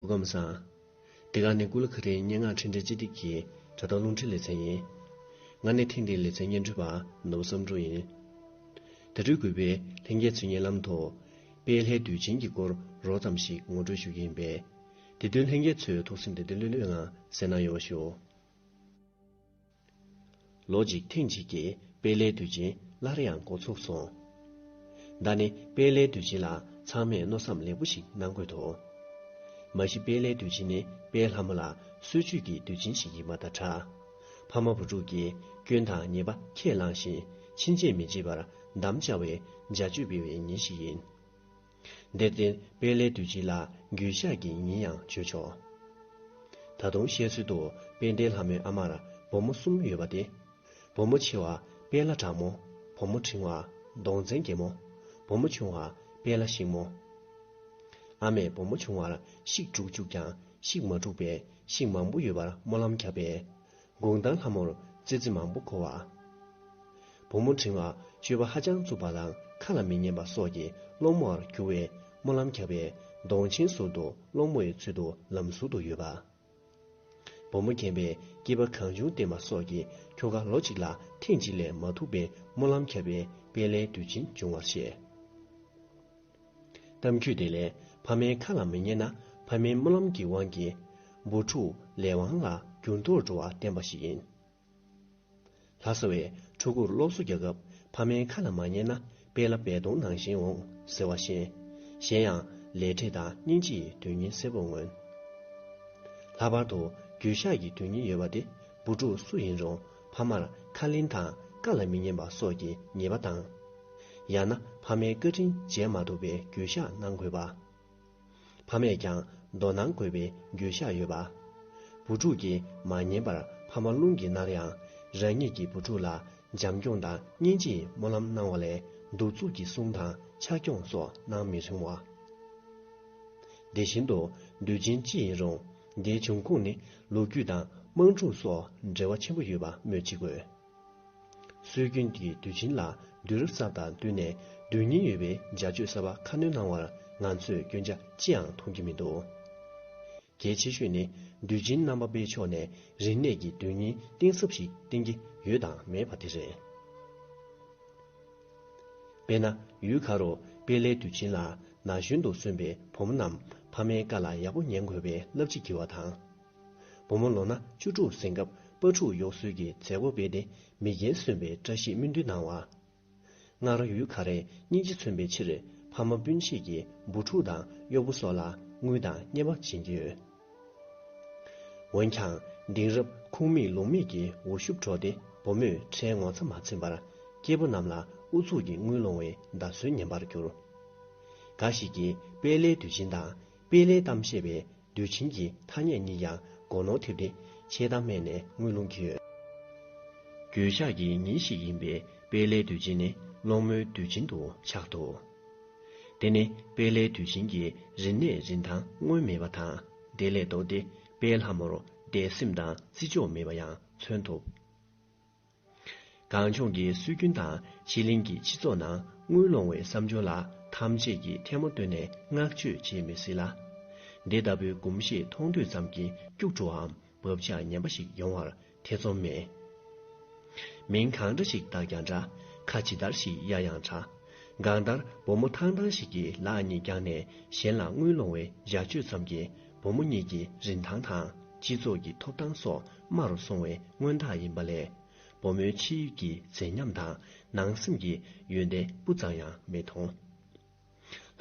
སྒོམ་བཟང། འདི་ག་ནི་སྐུ་ལ་ཁ་རིའི་སྙན་ངག་འཕྲིན་སྦྲེལ་སྤྱི་སྟེགས་ཀྱི་དྲ་ཐོག་རླུང་འཕྲིན་ལེ་ཚན་ཡིན། ང་ནི་ཐེངས་འདིའི་ལེ་ཚན་སྙན་སྒྲོན་པ་ནོར་བུ་བསམ་འགྲུབ་ཡིན། དེ་འཕྲོས་གུས་པས་ལྷན་རྒྱས་ཚུལ་བརྙན་ལམ་དུ། དཔལ་ལྷའི་དུས་ཆེན་གྱི་སྐོར་རོགས་ཙམ་ཞིག་ངོ་སྤྲོད་ཞུ་རྒྱུ་ཡིན་པས། དེ་དོན་ལྷན་རྒྱས་ཚོས་ཐུགས་སེམས་བདེ་བདེ་ལྷོད་ལྷོད་ངང་གསན་གནང་ཡོང་བ་ཞུ། ལོ་གཅིག་ཐེངས་གཅིག་གི་དཔལ་ལའི་དུས་ཆེན་སླར་ཡང་འགོ་ཚུགས་སོང། ད་ནི་དཔལ་ལའི་དུས་ཆེན་ལ་ཚང་མས་མནོ་བསམ་ལེགས་པོ་ཞིག་གནང་དགོས་འདུག། མ་གཞི་དཔལ་ལའི་དུས་ཆེན་ནི་དཔལ་ལྷ་མོ་ལ་གསོལ་མཆོད་ཀྱི་དུས་ཆེན་ཞིག་ཡིན་པ་དང་འདྲ། ཕ་མ་བུ་ཕྲུག་གིས་སྐྱོན་དང་ཉེས་པ་ཁས་བླངས་ཤིང་ཕྱིན་ཆད་མི་བྱེད་པར་འདམ་བཅའ་བའི་འཇའ་མཆོད་སྤེལ་བའི་ཉིན་ཞིག་ཡིན། དེར་བརྟེན་དཔལ་ལས་དུས་ཅི་ལ་འགྱུར་ཤག་གིས་ཉིན་ཡང་བརྗོད་ཆོག། ད་དུང་བཤད་ཚུལ་དུ་དཔལ་ལྡན་ལྷ་མོའི་ཨ་མར་བུ་མོ་གསུམ་ཡོད་པ་སྟེ། བུ་མོ་ཆེ་བ་དཔལ་ལྷ་གྲགས་མོ། བུ་མོ་འབྲིང་བ་གདོང་ཙན་རྒྱལ་མོ། བུ་མོ་ཆུང་བ་དཔལ་ལྷ་གཤེགས་མོ། ཨ་མས་བུ་མོ་ཆུང་བར་གཤེགས་དྲུག་བཅུག་ཀྱང་གཤེགས་མ་དྲུག་པའི་གཤེགས་མང་པོ་ཡོད་པར་སྨོན་ལམ་བརྒྱབ་པས། དགུང་དང་ལྷ་མོར་ཙི་ཙི་མང་པོ་གོ་བ། བུ་མོ་འབྲིང་བ་སྤྱོད་པ་ཧ་ཅང་རྩུབ་པ་དང་ཁ་ལ་མི་ཉན་པ་སོགས་ཀྱི་སློང་མོ་བར་གྱུར་བས་སྨོན་ལམ་ཁྱབ་པས་གདོང་ཆེན་ཟུར་དུ་སློང་མོ་ཡི་ཚུལ་དུ་ལམ་ཟུར་དུ་ཡོད་པ། བུ་མོ་རྒན་པས་སྐྱིད་པ་གང་བྱུང་བསྟེན་པ་སོགས་ཀྱི་ཁྱོ་ག་ལོ་གཅིག་ལ་ཐེངས་གཅིག་ལས་མ་ཐུག་པས་སྨོན་ལམ་ཁྱབ་པས་དཔལ་ལྡན་དུས་ཆེན་འབྱུང་བར་བཤད། གཏམ་རྒྱུད་དེ་ལས་ཕ་མའི་ཁ་ལ་མི་ཉན་ན་ཕ་མའི་སྨོན་ལམ་གྱི་དབང་གིས། བུ་ཕྲུག་ལས་དབང་ལ་འགྱུར་ལྡོག་འགྲོ་བ་བསྟན་པ་ཞིག་ཡིན། ལྷ་ས་བས་ཕྲུ་གུར་སློབ་གསོ་རྒྱག་སྐབས་ཕ་མའི་ཁ་ལ་མ་ཉན་ན་དཔེ་ལ་བལ་གདོང་ནང་བཞིན་འོང་ཟེར་བ་བཞིན། གཞན་ཡང་ལས་འབྲས་དང་སྙིང་རྗེའི་དོན་སྙིང་གསལ་པོར་མངོན། ལྷག་པར་དུ་རྒྱུད་བཤགས་ཀྱི་དོན་སྙིང་ཡོད་པ་དེ་བུ་ཕྲུག་སུ་ཡིན་རུང། ཕ་མར་ཁ་ལེན་དང་བཀའ་ལ་མི་ཉན་པ་སོགས་ཀྱི་ཉེས་པ་དང། ཡང་ན་ཕ་མའི་བཀའ་དྲིན་མཇལ་མ་ཐུབ་པའི་རྒྱུ་བཤགས་གནང་དགོས་པ། ཕ་མས་ཀྱང་མདོར་གནང་དགོས་པའི་རྒྱུ་བཤགས་ཡོད་པ། བུ་ཕྲུག་གིས་མ་ཉན་པར་ཕ་མ་རླུང་གིས་མནར་ཡང་རང་ཉིད་ཀྱི་བུ་ཕྲུག་ལ་འཇམ་སྐྱོང་དང་སྙིང་རྗེས་སྨོན་ལམ་གནང་བ་ལས་གདུག་རྩུབ་ཀྱི་གསུང་དང་ཕྱག་སྐྱོང་སོགས་གནང་མི་རུང་བ། དེ་བཞིན་དུ་འདུལ་ཆེན་ཅི་ཡིན་རུང། འདིའི་འབྱུང་ཁུངས་ནི་ལོ་རྒྱུས་དང་དམངས་ཁྲོད་སོགས་འབྲེལ་བ་ཆེན་པོ་ཡོད་པ་སྨོས་ཅི་དགོས། སྲོལ་རྒྱུན་གྱི་དུས་ཆེན་ལ་དུས་རབས་གསར་དང་བསྟུན་ནས་དོན་སྙིང་ཡོད་པའི་འཇའ་སྤྱོད་གསར་པ་ཁ་སྣོན་གནང་བར་ང་ཚོས་སྐྱོན་ཆ་ཅི་ཡང་མཐོང་རྒྱུ་མི་འདུག། གལ་ཆེ་ཤོས་ནི་དུས་ཆེན་རྣམ་པ་སྤེལ་ཕྱོགས་ནས་རིག་གནས་ཀྱི་དོན་སྙིང་གཏིང་ཟབ་ཞིག་བསྟན་གྱི་ཡོད་དང་མེད་པ་དེ་རེད། དཔེར་ན་ཡུལ་ག་རུ་དཔལ་ལའི་དུས་ཆེན་ལ་ན་གཞོན་དུ་སོན་པའི་བུ་མོ་རྣམས་ཕ་མའི་བཀའ་ལ་ཡག་པོ་ཉན་དགོས་པའི་བསླབ་བྱ་བགྱི་བ་དང། བུ་མོ་ལོ་ན་བཅུ་དྲུག་ཟིན་སྐབས་སྤ་ཕྲུག་གཡོག་གསོལ་གྱི་མཛད་སྒོ་སྤེལ་ཏེ་མི་རྒན་སོན་པའི་བཀྲ་ཤིས་སྨོན་འདུན་གནང་བ། སྔར་ཡུལ་ག་རེ་སྙིང་རྗེ་མཚོན་པའི་ཕྱིར་ཕ་མ་སྤུན་མཆེད་ཀྱི་བུ་ཕྲུག་དང་གཡོག་པོ་སོགས་ལ་དངུལ་དང་སྙན་པ་བྱིན་ཡོད། འོན་ཀྱང་དེང་རབས་ཁུངས་མེད་ལུང་མེད་ཀྱི་འུར་ཤུབས་འཕྲོག་སྟེ་བུ་མོས་ཁྲའི་ངོ་ཚ་མ་ཚིམས་པར་སྐྱེས་བུ་རྣམས་ལ་ཨུ་ཚུགས་ཀྱིས་དངུལ་སློང་བའི་འདའ་གསོལ་ཉན་པར་གྱུར། འགའ་ཞིག་གིས་དཔལ་ལའི་དུས་ཆེན་དང་དཔལ་ལའི་གཏམ་བཤད་པའི་དུས་ཆེན་གྱི་ཐ་སྙད་གཉིས་ཀྱང་མགོ་ནོར་ཐེབས་ཏེ་འཆལ་གཏམ་སྨྲས་ནས་དངུལ་སློང་གི་ཡོད། འགྱོད་བཤགས་ཀྱི་ཉིན་ཞིག་ཡིན་པས་དཔལ་ལའི་དུས་ཆེན་ནི་སློང་མོའི་དུས་ཆེན་དུ་ཆགས་འདུག། དེ་ནི་དཔལ་ལས་དུས་བཞིན་གྱི་རིན་གནས་རིན་ཐང་སྔོན་མེད་པ་དང་དེ་ལས་ལྡོག་སྟེ་དཔལ་ལྷ་མོར་དད་སེམས་དང་བརྩི་འཇོག་མེད་པ་ཡང་མཚོན་ཐུབ། གངས་ལྗོངས་ཀྱི་སྲོལ་རྒྱུན་དང་ཕྱི་གླིང་གི་སྤྱི་ཚོགས་ནང་དངུལ་སློང་བའི་བསམ་སྦྱོར་ལ་ཐམས་ཅད་ཀྱིས་ཐལ་མོ་བཏོན་ནས་བསྔགས་བརྗོད་བྱེད་མི་སྲིད་ལ། འདི་ལྟ་བུའི་གོམས་གཤིས་མཐོང་དུས་ཙམ་གྱིས་སྐྱུག་བྲོའམ་བབ་ཆགས་ངན་པ་ཞིག་ཡོང་བར་ཐེ་ཚོམ་མེད། མིང་གང་འདྲ་ཞིག་བཏགས་ཀྱང་འདྲ། ཁ་ཇི་ལྟར་ཞིག་གཡར་ཡང་འདྲ། གང་ལྟར་བུ་མོ་ཐང་ཐང་ཞིག་གིས་ལག་གཉིས་བརྐྱངས་ནས་གཞན་ལ་དངུལ་སློང་བའི་ཡར་བཅོས་ཙམ་གྱིས་བུ་མོ་གཉིས་ཀྱི་རིན་ཐང་དང་སྤྱི་ཚོགས་ཀྱི་ཐོབ་ཐང་སོགས་དམའ་རུ་སོང་བའི་མངོན་རྟགས་ཡིན་པ་ལས། བུ་མོའི་ཕྱི་ཡུལ་གྱི་མཛེས་ཉམས་དང་ནང་སེམས་ཀྱི་ཡོན་ཏན་སྤུ་ཙམ་ཡང་མི་མཐོང།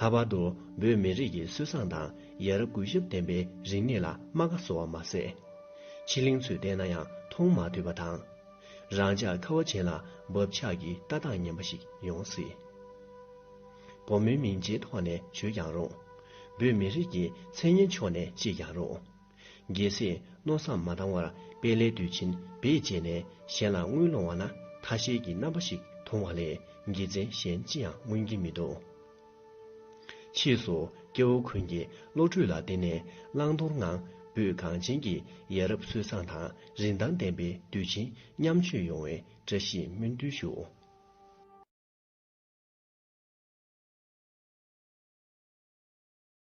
ལྷག་པར་དུ་བོད་མི་རིགས་ཀྱི་སྲོལ་བཟང་དང་ཡ་རབས་གུས་ཞབས་ལྡན་པའི་རིག་གནས་ལ་རྨ་ཁ་བཟོ་བ་མ་ཟད། ཕྱི་གླིང་ཚོས་བལྟས་ན་ཡང་མཐོང་མ་ཐུབ་པ་དང། རང་ཅག་ཁ་བ་ཅན་ལ་བབ་ཆགས་ཀྱི་ལྟ་སྟངས་ངན་པ་ཞིག་ཡོང་སྲིད། བུ་མོའི་མིང་རྗེས་ཐོག་ནས་བྱོས་ཀྱང་རུང། བོད་མི་རིགས་ཀྱི་མཚན་སྙན་ཕྱོགས་ནས་བཅད་ཀྱང་རུང། རྒྱལ་སྲས་མནོ་བསམ་མ་བཏང་བར་དཔལ་ལས་དུས་ཕྱིན་བེད་སྤྱད་ནས་གཞན་ལ་དངུལ་སློང་བ་ན་ཐ་ཤལ་གྱི་རྣམ་པ་ཞིག་མཐོང་བ་ལས་དགེ་མཚན་གཞན་ཅི་ཡང་མངོན་གྱིན་མི་འདུག། ཕྱིས་སུ་སྐྱེ་བོ་ཀུན་གྱིས་བློ་གྲོས་ལ་བརྟེན་ནས་བླང་དོར་ངང་བོད་གངས་ཅན་གྱི་ཡ་རབས་སྲོལ་བཟང་དང་རིན་ཐང་ལྡན་པའི་དུས་ཆེན་མཉམ་མཇོད་ཡོང་བའི་བཀྲ་ཤིས་སྨོན་འདུན་ཞུ།